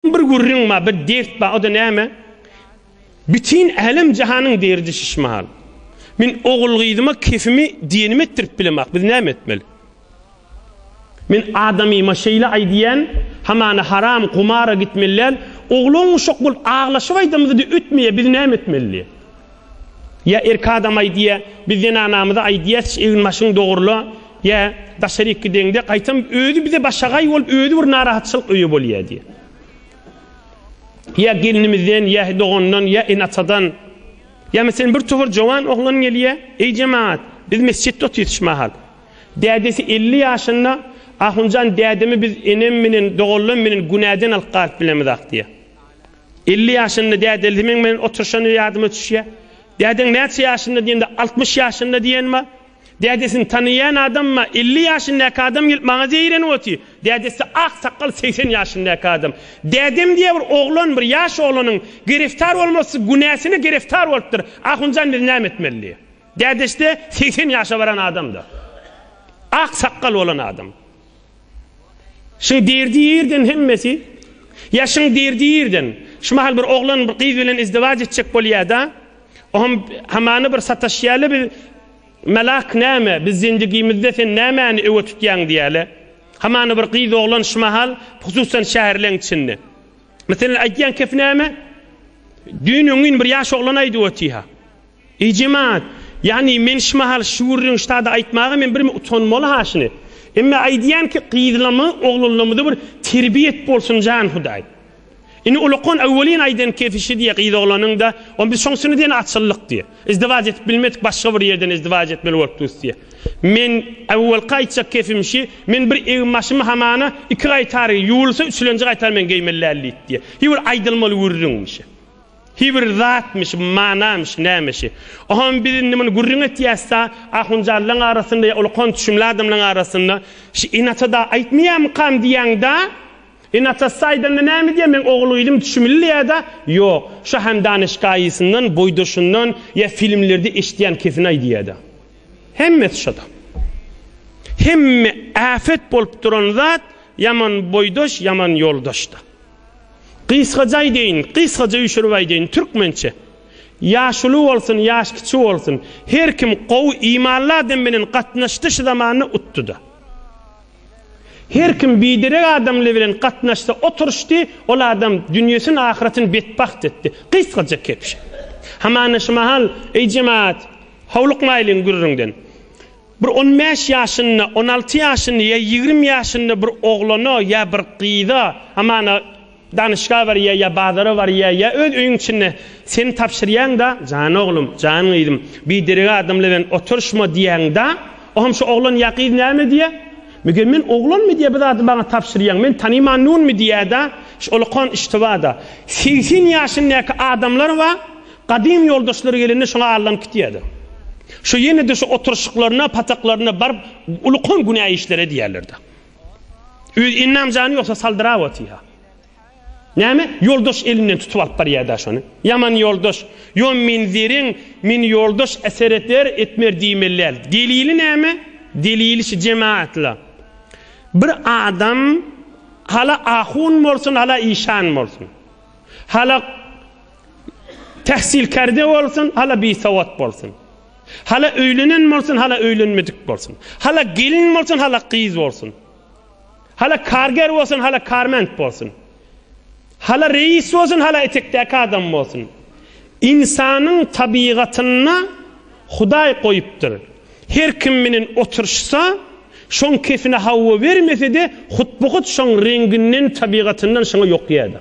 Bir gürrüň bar, bir dert bar, o-da näme? Bütin älem-jahanyň derdi şiş mahal. Men ogul-gyzyma kefimi diýenimi etdirip bilemok, biz näme etmeli? Men adamyma şeýle aýdýan, hamana haram gumara gitmeli däl, oglan-uşak bolup aglaşyp aýdamyzy-da ötmeýär, biz näme etmeli? diýýär. Ýa erkek adam aýdýa, biz zenanamyza aýdýasç egin başyň dogrula, ýa daşaryk gideňde gaýtam özi bize başagaý bolup özi bir narahatçylyk öýe bolýa diýe. Ýa gelnimizden, ýa dogandan, ýa ene atadan, ýa meselen bir topar jowan oglan gelýä, eý jemagat, biz mesjitde otyryş mahal. Dädesi elli ýaşynda, Ahunjan dädemi biz enem menen doganlam menen günäden alyp galyp bilemizak diýe. Elli ýaşynda dädesi meň bilen oturyşany ýadyma düşýär. Dädeň näçe ýaşynda diýende, altmyş ýaşynda diýen bar. Dädesini tanaýan adam bar. Elli ýaşyndaky adam gelip maňa zeýrenip otyr. Dädesi ak sakgal segsen ýaşyndaky adam. Dädem diýýär bir oglan, bir ýaş oglanyň gereftar bolmasy günäsine gereftar bolupdyr. Ahunjan biz näme etmeli diýýär. Dädesi-de segsen ýaşa baran adam-da. Ak sakgal bolan adam. Şuň derdi ýerden hemmesi. Ýaşyň derdi ýerden. Şu mahal bir oglan bir gyz bilen izdiwaç etjek bolýar-da. Oňam hamana bir sataşýarlar biz Melak näme, biz zendigimizde sen nämäni öňe tutýaň diýýärler. Hamana bir gyz oglan şu mahal hususan şäherleň içinde. Meselem aýdýan kep näme? Düýn öňňin bir ýaş oglan aýdyp otyha. Eý jemaat! Ýagny men şumahal şu gürrüň ştada aýtmaga men birme utanmaly ha şuny. Emme aýdýan ki gyzlamy, oglanlamyda bir terbiýet bolsun jan Hudaý. Indi ulakon awwelin aýdan kefişi diýýä gyz oglanyň-da, on biz şoňsyny diýen açyldyk diýýä. Izdiwac edip bilmedik başga bir ýerden izdiwac etmeli bolupdyrys diýýä. Men awwelki aýtjak kefim şi, men bir egin-başymy hamana iki gaýtar, ýuwulsa üçülenji gaýtar men geýmeli däldiýdi diýýä. Hi bir aýdylmaly gürrüňmi şi. Hi bir zatmyş, manamyş, nämeşi. Oham biz indi muny gürrüň etýäs-da, ahunjanlaň arasynda ýa ulkan düşümli adamlaň arasynda, Şi Inata-da aýtmaýamykam diýýäň-da? Inatasy aýdanda näme diýýä, meň ogul-gyzym düşümli diýýä-da? Ýok, şo hem danyşgaýysyndan, boýdaşyndan ýa filmlerde eşidýän kesinaý diýýä-da. Hemmesi şo-da. Hemme äpet bolup duran zat ýaman boýdaş, ýaman ýoldaş-da. Gysgaja aýdaýyn, gysgaja üýşürip aýdaýyn, türkmençe. Ýaş uly bolsun, ýaş kiçi bolsun, her kim gowy, imanly adam bilen gatnaşdy şu zamanda utdy-da. Her kim biderek adamly bilen gatnaşdy, oturyşdy, ol adam dünýesini, ahyretini betbagt etdi. Gysgaja kebşe. Hamana şu mahal, Eý jemagat, howlukmaýlyň gürrüňden. Bir on bäş ýaşynda, on alty ýaşynda ýa ýigrimi ýaşynda bir oglana ýa bir gyza, Amana, danyşga barýa ýa bazara barýa ýa öz öýüň içinde seni tabşyrýan-da, Jan oglum, jan gyzym, biderek adamlar bilen oturyşma diýýäň-da, o hem şu oglan ýa gyz näme diýýä? Meger men oglanmy diýýä bu zady maňa tabşyrýaň, men tanymanynmy diýýä-da, şu olakan iştiba-da. Segsen ýaşyndaky adamlar bar, Gadym ýoldaşlary gelende şoňa allanyp gitýärdi. Şo ýene-de şo oturyşyklaryna, pataklarynda baryp ulukan günä işler edýärlerdi. Özi Ennam jany ýogsa saldyrap otyr-ha. Näme, ýoldaş elinden tutup alyp barýar-da şony. Ýaman ýoldaş. Ýo min zerrin min ýoldaş eser eter, etmer diýmeli däl. Delili näme? Delili şu jemaatla. Bir adam hala ahun bolsun, hala işan bolsun. Hala Tähsil kärde bolsun, hala bisowat bolsun. Hala öýlenen bolsun, hala öýlenmedik bolsun. Hala gelin bolsun, hala gyz bolsun. Hala karger bolsun, hala karment bolsun. Hala reýis bolsun, hala etekdäki adam bolsun. Ynsanyň tabygatynda Hudaý goýupdyr. Her kim bilen oturyşsa, şoň kefine hawa bermese-de, hut-bu-hut şoň reňginden, tabygatyndan şoňa ýokýar-da.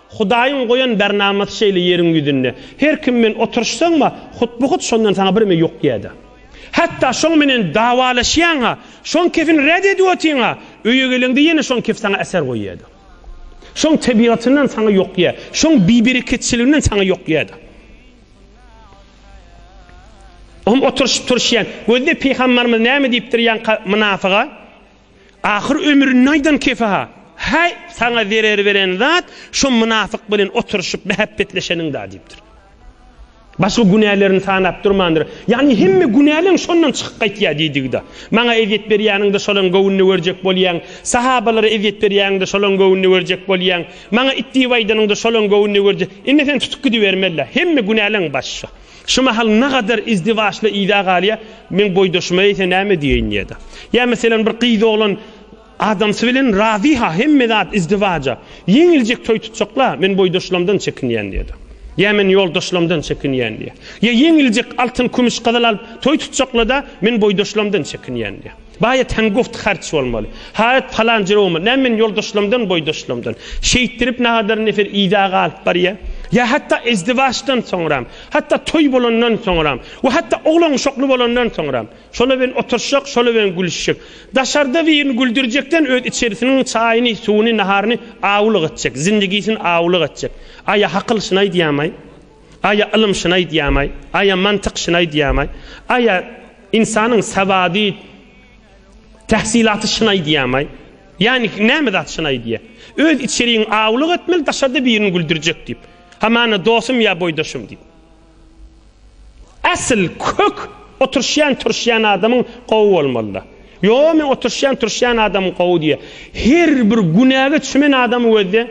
Hudaýyň goýan bernamasy şeýle ýeriň ýüzünde. Her kim bilen oturyşsaň-a, hut-bu-hut şondan saňa birme ýok ýa-da. Hatda şoň bilen dawalaşýaň-a, şoň kefini ret edip otyň-a, öýe geleňde ýene şoň kef saňa äser goý ýa-da. Şoň tebigatyndan saňa ýok ýa, şoň bibereketçiliginden saňa ýok ýa-da. Oňa oturyşyp-turuşýan, gözle Pygamberimiz näme diýipdir ýaňka mynafyga? Ahyr ömründe aýdan kefe-ha, Häý, saňa zerer beren zat şo mynafyk bilen oturyşyp mähäbbetleşeniň-dä diýipdir. Başga günälerini sanap durmandyr. Ýagny hemme günäleň şondan çykyp gaýtýar diýdigi-dä. Maňa ezýet berýäniň-de şolaň göwnüne görjek bolýaň, sahabalara ezýet berýäniň-de şolaň göwnüne görjek bolýaň, maňa it diýip aýdanyň-da şolaň göwnüne görjek. Indi sen tutup gidibermeli-dä. Hemme günäleň başy şo. Şu mahal nagadar izdiwaçly yza galýa, meň boýdaşyma eýse näme diýeýin diýäda. Ýa meselem bir gyz-oglan adamsy bilen razy-ha, hemme zat izdiwaja. Ýeňiljek toý tutjak-la, men boýdaşlamdan çekinýän diýäda. Ýa men ýoldaşlamdan çekinýän diýä. Ýa ýeňiljek altyn-kümüş gyzyl alyp toý tutjakla-da, men boýdaşlamdan çekinýän diýä. Baýatan guft harç bolmaly. Haýat palan jere bolmaly. Näme meniň ýoldaşlarymdan, boýdaşlarymdan. Şeýtdirip nagadar nefer idag alyp barýa. Ýa hatda ezdiwaçdan soňram. Hatda toý bolandan soňram. We hatda oglan uşakly bolandan soňram. Şolar bilen oturşjak, şolar bilen gülüşjek. Daşarda birini güldürjekden öz içerisiniň çaýyny, suwuny, naharyny awulyk etjek. Zindigisini awulyk etjek. Aýa hakyl şyny aýdýamaý? Aýa ylym şyny aýdýamaý? Aýa mantyk şyny aýdýamaý? Aýa. Ynsanyň sawady, tähsilaty şyna aýdýarmy? Ýagny näme zat şyna aýdýar? Öz içerigiňi awlyk etmeli, daşarda birini güldürjek diýip. Hamana dostum ýa boýdaşym diýip. Asyl kök oturyşýan turuşýan adamyň gowy bolmalyda. Ýoo men oturyşýan turuşýan adamym gowy diýýär. Her bir günäge çümen adamy gözle.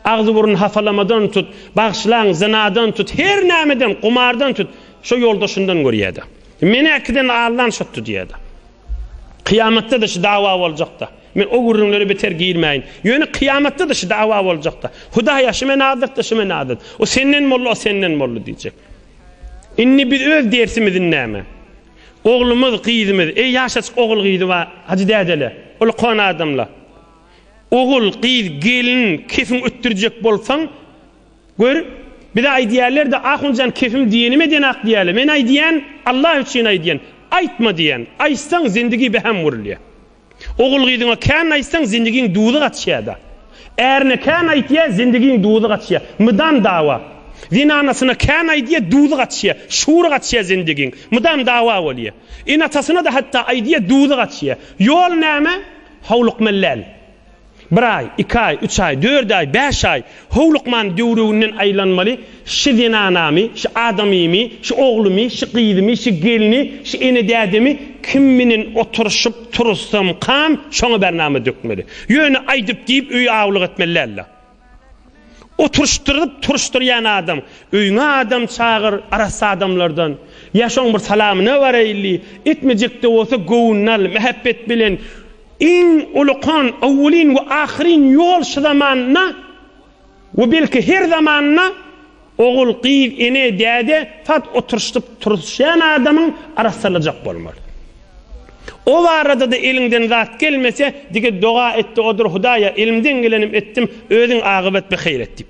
Agzy burny hapalamadan tut, bagşylaň zynadan tut, her nämeden, gumardan tut. Şo ýolda şundan görýär-de. Meni äkiden Allan şutdy diýýär-de. Kyýamatda-da şu dawa boljak-da. Men o gürrüňlere beter girmäýin. Ýöne kyýamatda-da şu dawa boljak-da. Hudaý-a, şu men adatdy, şu men adat. O senden boldy, o senden boldy diýjek. Indi biz öz dersimizi näme? Oglumyz, gyzymyz, eý, ýaşaçyk ogul-gyzy bar, hajy dädeler, ol kona adamlar. Ogul, gyz, gelin, kefiň ötdürjek bolsaň, Gör, bize aýdýärler-de, Ahunjan kefim diýenime denak diýýärler. Men aýdýan, Allah üçin aýdýan, aýtma diýýän. Aýtsaň, zindigi beham gurulýar. Ogul-gyzyňa kän aýtsaň, zindigiň duzy gaçýar-da. Ärine kän aýtýar, zindigiň duzy gaçýar. Mydam dawa. Zenanasyna kän aýdýar, duzy gaçýar. Şury gaçýar zindigiň. Mydam dawa bolýar. Ene-atasyna-da hatda aýdýar, duzy gaçýar. Ýol näme? Howlukmaly däl. Bir aý, iki aý, üç aý, dört aý, bäş aý howlukman döwrüginden aýlanmaly, şi zenanamy, şi adamymy, şi oglumy, şi gyzymy, şi gelni, şi ene-dädemi kim menen oturyşyp turussam kam, şoňa bernama dökmeli. Ýöne aýdyp-diýip öýi awlyk etmeli däl-de. Oturyşdyryp turyşdyrýan adam, öýüňe adam çagyr, arassa adamlardan. Ýa şoň bir salamyna baraýly, etmejek-de bolsa göwnüni al, mähepbet bilen. Iň ulykan, owwelin we ahyryn ýol şu zamanda we belki her zamanda Ogul, gyz, ene, däde saz oturyşdyp turuşýan adamyň arassalajak bolmaly. O barada-da eliňden zat gelmese, dige doga et-de odur, Hudaýa, elimden gelenim etdim, özüň agybat bi heýr et diýip.